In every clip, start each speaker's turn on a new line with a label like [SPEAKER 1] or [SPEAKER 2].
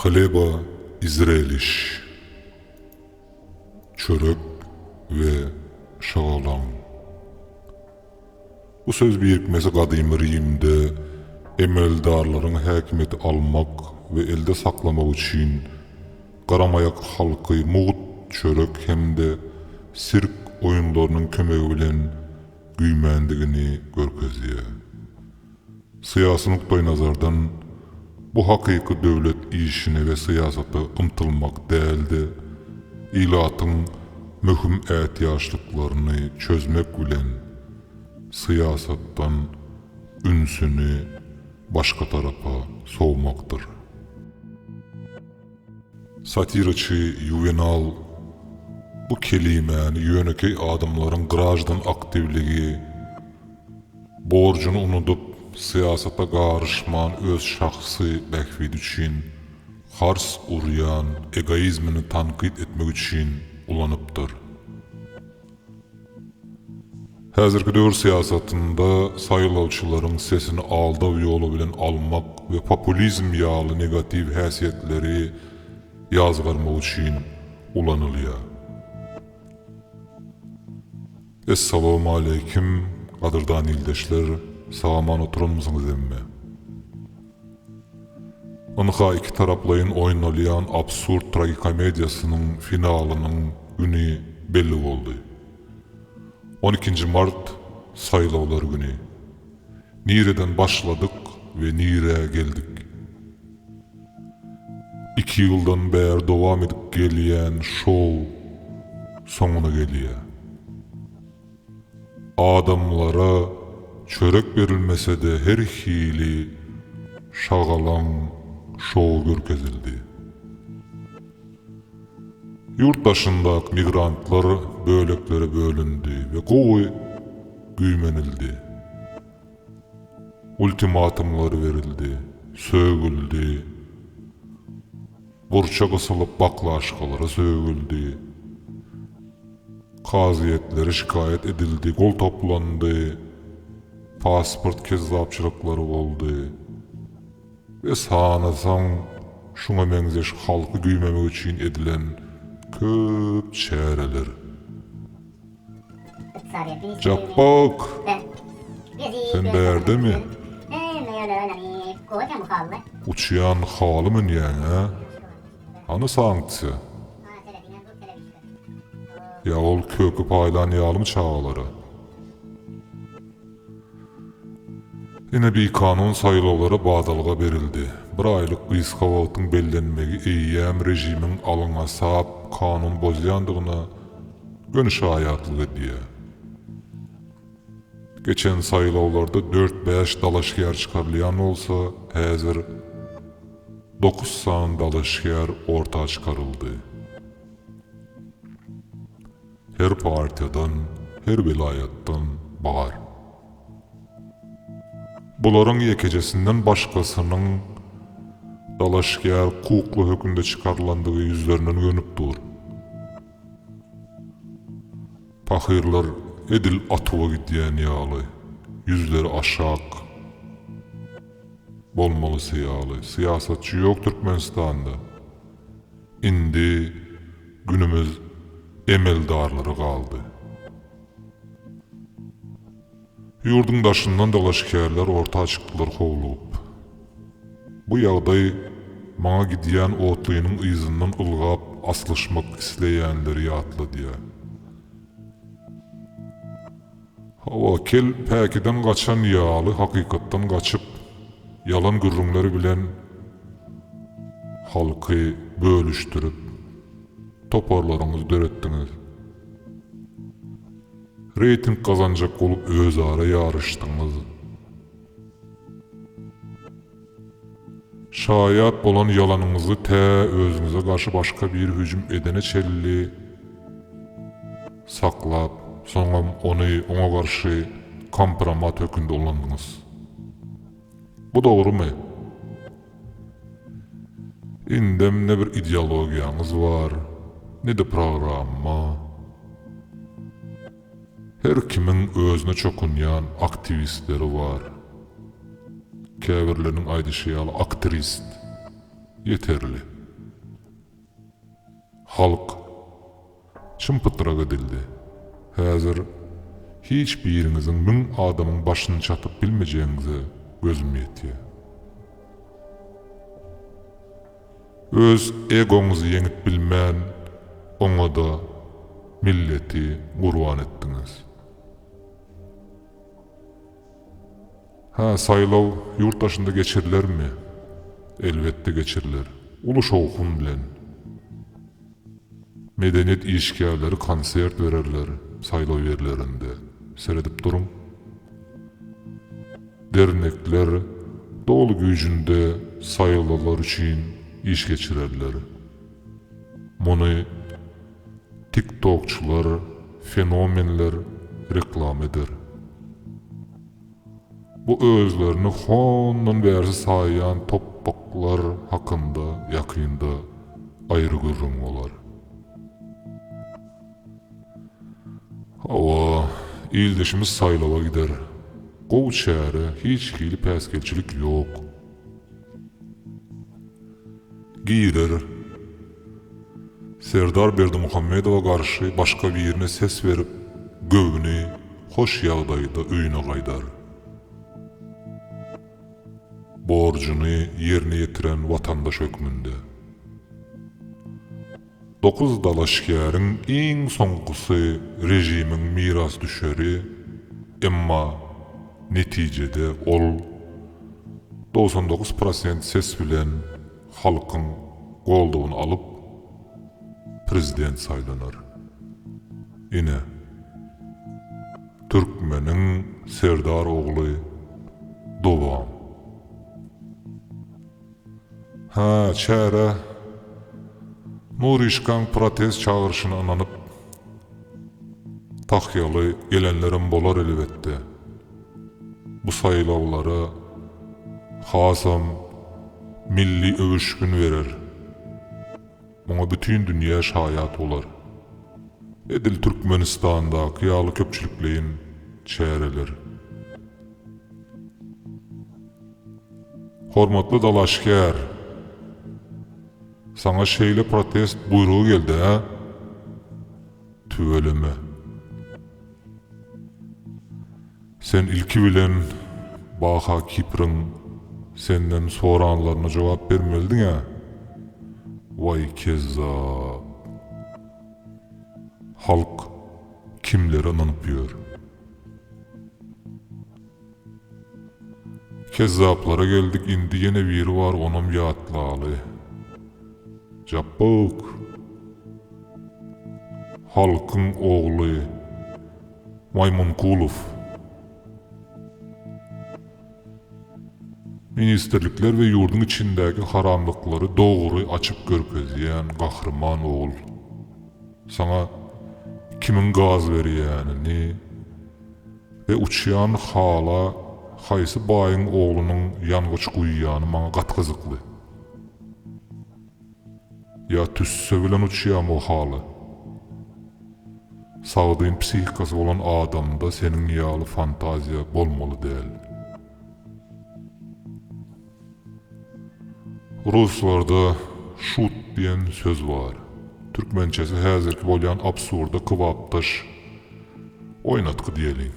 [SPEAKER 1] Hleba izreliş, çörek we şagalaň. Bu söz birikmesi gadymy Rimde emeldarlaryň häkimiýeti almak we elde saklamak üçin garamaýak halky mugt çörek hem-de sirk oýunlarynyň kömegi bilen güýmändigini görkezýär. Syýasy nukdaýnazardan, bu hakyky döwlet işine we syýasata ymtylmak däl-de, ilatyň möhüm ätiýaçlyklaryny çözmek bilen, syýasatdan ünsüni başga tarapa sowmakdyr. Satiraçy Ýuwenal bu kelimäni ýönekeý adamlaryň graždan aktiwligi, Borjuny unudyp, syýasata garyşman öz şahsy bähbidi üçin hars urýan egoizmini tankyt etmek üçin ulanypdyr. Häzirki döwür syýasatynda saýlawçylaryň sesini aldaw ýoly bilen almak we populizm ýaly negatiw häsiýetleri ýazgarmak üçin ulanylýar. Essalawmaleýkim gadyrdan ildeşler sagaman oturanmysyňyz emme. Ynha iki taraplaýyn oýnalýan absurd tragikomediýasynyň finalynyň güni belli boldy. On ikinji mart saýlawlar güni. Nireden başladyk we nirä geldik. Iki ýyldan bäri dowam edip gelýän şou soňuna gelýär. Adamlara çörek berilmese-de her hili şagalaň şowy görkezildi. Ýurt daşyndaky migrantlar böleklere bölündi we gowy güýmenildi. Ultimatumlar berildi, sögüldi. Burça gysylyp baklaşkalara sögüldi. Kazyýetlere şikaýat edildi, gol toplandy. Pasport kezzapçylyklary boldy. We sanasaň şuňa meňzeş halky güýmemek üçin edilen köp çäreler. Japbak! Sen bärdemi? Uçýan haly münýäň-ä? Hany sanksiýa? Ýa ol köki paýlan ýalymy çagalara? Ine bikanun saýlawlara badalga berildi. Bir aýlyk gysga wagtyň bellenmegi eýýäm režimiň alňasap kanun bozýandygyna göni şaýatlyk edýär. Geçen saýlawlarda dört-bäş dalaşgär çykarylýan bolsa, häzir dokuz sany dalaşgär orta çykaryldy. Her partiýadan, her welaýatdan bar. Bularyň ýekejesinden başgasynyň dalaşgär hukukly hökümde çykarylandygy ýüzlerinden gönüp dur. Pahyrlar edil atuwa gidýän ýaly, ýüzleri aşak. Bolmalysy ýaly, syýasatçy ýok Türkmenistanda. Indi günümiz emeldarlara galdy. Ýurduň daşyndan dalaşgärler orta çykdylar howlugyp. Bu ýagdaý maňa gidýän otlynyň yzyndan ylgap aslyşmak isleýänleri ýatladýar. Hawa, kel päkiden gaçan ýaly hakykatdan gaçyp, ýalan gürrüňler bilen halky bölüşdirip, toparlaryňyzy döretdiňiz. Reýting gazanjak bolup özara ýaryşdyňyz. Şaýat bolan ýalanyňyzy tä özüňize garşy başga biri hüjüm edene çenli saklap, soňam ony oňa garşy kompromat hökünde ulandyňyz. Bu dogrumy? Indem ne bir ideologiýaňyz bar, ne-de programma. Her kimiň özüne çokunýan aktiwistleri bar. Käbirleriniň aýdyşy ýaly aktrist ýeterli. Halk çym-pytrak edildi. Häzir hiç biriňiziň müň adamyň başyny çatyp bilmejegiňize gözüm ýetýär. Öz egoňyzy ýeňip bilmän oňada milleti gurban etdiňiz. Hä saýlaw ýurt daşynda geçirilermi? Elbetde geçiriler. Uly şowhun bilen. Medeniýet işgärleri konsert bererler saýlaw ýerlerinde, seredip duruň. Dernekler doly güýjünde saýlalar üçin iş geçirerler. Muny tiktokçylar, fenomenler reklama eder. Bu özlerini hondan bärsi saýýan topbaklar hakynda ýakynda aýry gürrüň bolar. Hawa, ildeşimiz saýlawa gider. Gowy çäre, hiç hili päsgelçilik ýok. Girer. Serdar Berdimuhamedowa garşy başga birine ses berip, göwni hoş ýagdaýda öýüne gaýdar. Borjuny ýerine ýetiren watandaş hökmünde. Dokuz dalaşgäriň iň soňkusy režimiň mirasdüşeri, emma netijede ol dogsan dokuz prosent ses bilen halkyň goldawyny alyp, prezident saýlanar. Ine, türkmeniň serdar ogly Dogan. Hä, çäre Nuryşkaň protest çagyryşyna ynanyp, tahýaly gelenlerem bolar elbetde. Bu saýlawlara hasam milli öwüşgin berer. Muňa bütin dünýä şaýat bolar. Edil Türkmenistandaky ýaly köpçülikleýin çäreler. Hormatly dalaşgär! Saňa şeýle protest buýrugy geldi-hä? Tüweleme. Sen ilki bilen Baha Kipriň senden soranlaryna jogap bermelidiň-ä! Waý kezzap! Halk kimlere ynanyp ýör? Kezzaplara geldik indi ýene biri bar onam ýatlaly. Japbug. Halkyň ogly. Maýmunkulow. Ministrlikler we ýurdyň içindäki haramlyklary dogry açyp görkezýän gahryman ogul. Saňa kimiň gaz berýänini. E uçýan hala haýsy baýyň oglunyň ýangyç guýýany maňa gaty gyzykly. Ýa tüsse bilen uçýamy o hala. Sagdyn psihikasy bolan adamda seniň ýaly fantaziýa bolmaly däl. Ruslarda şut diýen söz bar. Türkmençesi häzirki bolýan absurda kybapdaş oýnatgy diýeliň.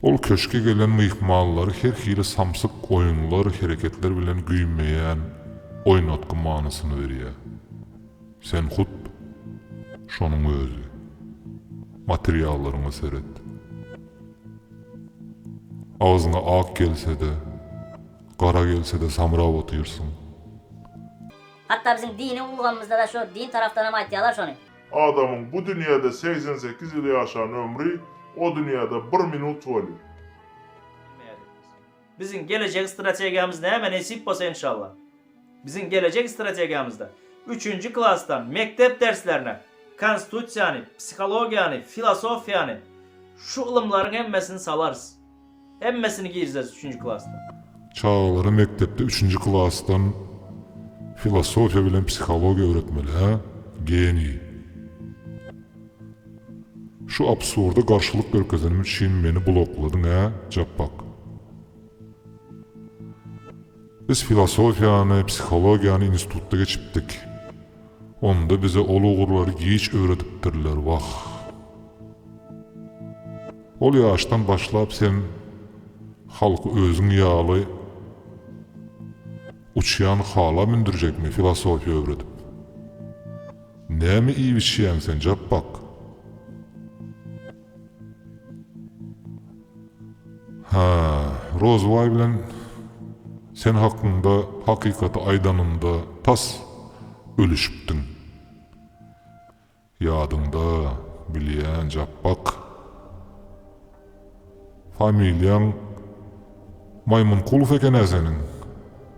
[SPEAKER 1] Ol köşge gelen myhmanlary her hili samsyk oýunlar, hereketler bilen güýmeýän oýnatgy manysyny berýär. Sen hut şonuň özi. Materiallaryňa seret. Agzyňa ak gelse-de, gara gelse-de samrap otyrsyň. Hatda biziň dini ulgamymyzda-da şu din tarapdanam aýtýarlar şony. Adamyň bu dünýäde segsen sekiz ýyl ýaşan ömri o dünýäde bir minut welin. Biziň gelejek strategiýamyz näme nesip bolsa enşalla. Biziň gelejek strategiýamyzda üçünji klasdan mekdep derslerine konstitusiýany, psihologiýany, filosofiýany şu ylymlaryň hemmesini salarys. Hemmesini girizeris üçünji klasda. Çagalara mekdepde üçünji klasdan filosofiýa bilen psihologiýa öwretmeli hä? Geniý. Şu absurda garşylyk görkezenim üçin meni blokladyň-a, Japbak? Biz filosofiýany, psihologiýany institutda geçipdik. Onda bize ol ugurlary giç öwredipdirler, wah! Ol ýaşdan başlap sen halky özüň ýaly uçýan hala mündürjekmi filosofiýa öwredip? Näme iýip içýäň sen Japbak? Hä, Rozybaý bilen sen hakynda hakykaty aýdanymda tas ölüşipdiň. Ýadyňda, bilýän Japbak. Familiýaň Maýmynkulow ekenä seniň.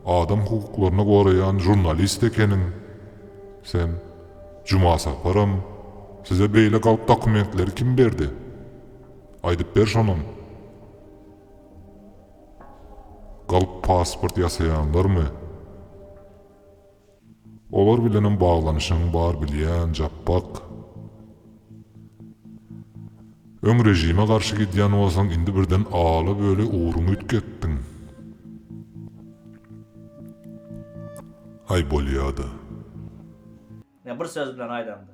[SPEAKER 1] Adam hukuklaryny goraýan žurnalist ekeniň sen. Juma Saparam size beýle galp dokumentleri kim berdi? Aýdyp ber şonam. Galp pasport ýasaýanlarmy? Olar bilenem baglanyşygyň bar bilýän Japbak. Öň režime garşy gidýän bolsaň indi birden ala böle ugruňy üýtgetdiň. Aý bolýada. Ýa bir söz bilen aýdaňda.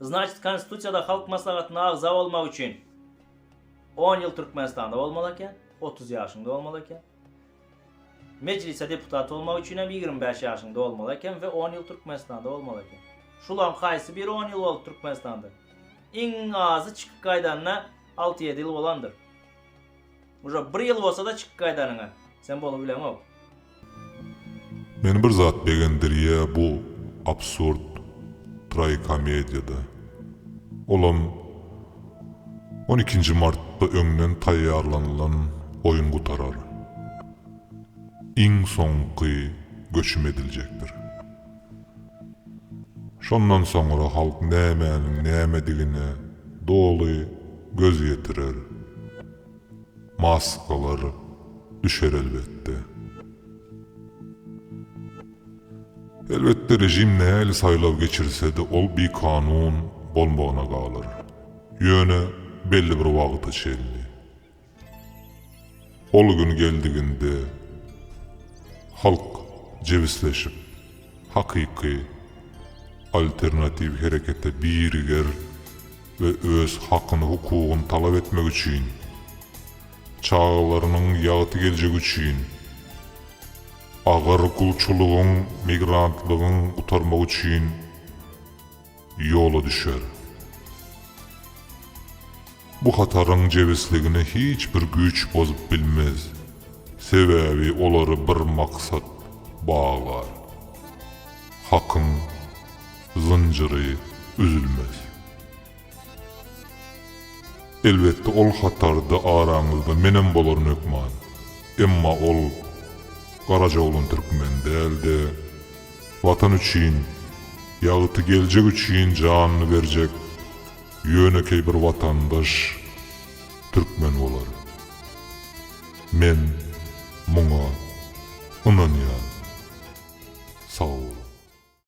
[SPEAKER 1] Znaçit konstitusiýada halk maslahatyna agza bolmak üçin on ýyl Türkmenistanda bolmaly eken, otuz ýaşyňda bolmaly eken. Mejlise deputat bolmak üçin hem ýigrimi bäş ýaşyň dolmaly eken we on ýyl Türkmenistanda bolmaly eken. Şulaň haýsy biri on ýyl bolup Türkmenistanda? Iň azy çykyp gaýdanyna alty-ýedi ýyl bolandyr. Uje bir ýyl bolsa-da çykyp gaýdanyňa sen bolubileňok. Meni bir zat begendirýä bu absurd traýikomediýada. Olam. On ikinji martda öňden taýýarlanylan oýun gutarar. Iň soňky göçüm ediljekdir. Şondan soňra halk nämäniň nämedigine doly göz ýetirer. Maskalar düşer elbetde. Elbetde režim nähili saýlaw geçirsede ol bikanun bolmagyna galar. Ýöne belli bir wagta çenli. Ol gün geldiginde halk jebisleşip hakyky alternatiw herekete biriger we öz hakyny hukugyny talap etmek üçin, çagalarynyň ýagty geljegi üçin, Agyr gulçulygyň, migrantlygyň gutarmagy üçin ýola düşer. Bu hataryň jebisligini hiç bir güýç bozup bilmez, sebäbi olary bir maksat baglar. Hakyň zynjyry üzülmez. Elbetde ol hatarda araňyzda menem bolaryn hökman. Emma ol Garajaglan türkmen dälde, Watan üçin, ýagty geljek üçin janyny berjek ýönekeý bir watandaş türkmen bolar. Men muňa ynanýan. Sag boluň.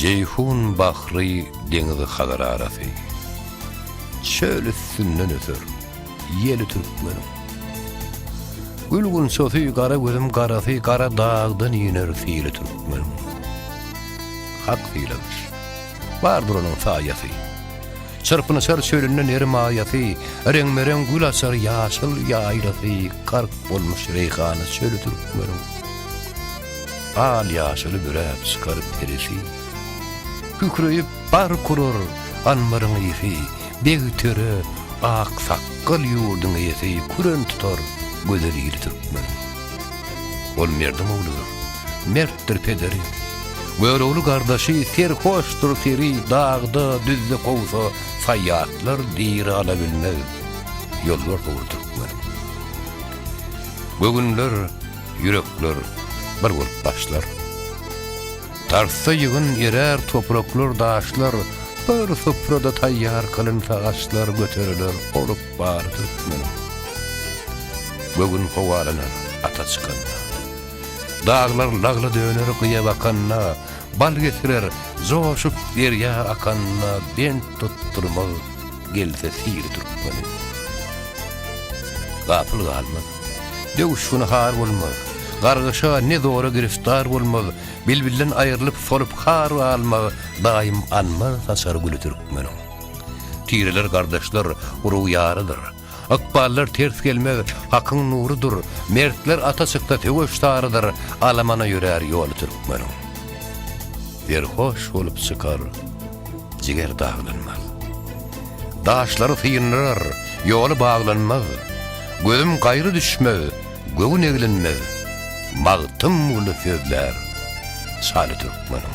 [SPEAKER 1] Jeýhun bahry deňizi Hazar arasy. Çöl üstünden öser ýeli türkmeniň. Gül gunçasy gara gözüm garasy gara dagdan iner syly türkmeniň. Hak syladyş. Bardyr onuň saýasy. Çyrpynyşar çölünde neri maýasy, reňbe-reň gül açar ýaşyl ýaýlasy, gark bolmuş reýhana çöli türkmeniň. Al ýaşyly büräp çykar perisi. Kükreýip bark urar anbaryň ýesi, Beg töre, ak sakgal ýurduň eýesi Küren tutar gözel ili türkmen. Ol merdiň ogludyr, mertdir pederi, Görogly gardaşy, serhoşdyr seri, Dagda, düzde kowsa, saýýatlar diri Ala bilmez ýolbars ogly türkmen. Göwünler. Ýürekler bir bolup başlar. Tartsa ýygyn erär topraklar daşlar, Bir suprada taýýar kylynsa aşlar göteriler olup bar türkmeniň. Göwün howalanar ata çykanda. Daglar lagla döner gyýa bakanda, Bal getirer joşup derýa akanda bent tutdurmaz. gelse syry türkmeniň. Gapyl galmaz, döwüşgini har bolmaz, gargyşa ne zora giriftar bolmaz, bilbilden aýrylyp solup har galmaz, daýym anmaz saçar güli türkmeniň. Tireler gardaşlar, urug-ýarydyr. Ykballar ters gelmez, hakyň nurudyr, Mertler ata çyksa söweş sarydyr, Alamana ýörär ýoly türkmeniň. Serhoş bolup çykar, jiger daglanmaz. Daşlary syndyrar, ýoly baglanmaz, Gözüm gaýra düşmez, göwün eglenmez, Magtym uly sözlär şaly türkmeniň.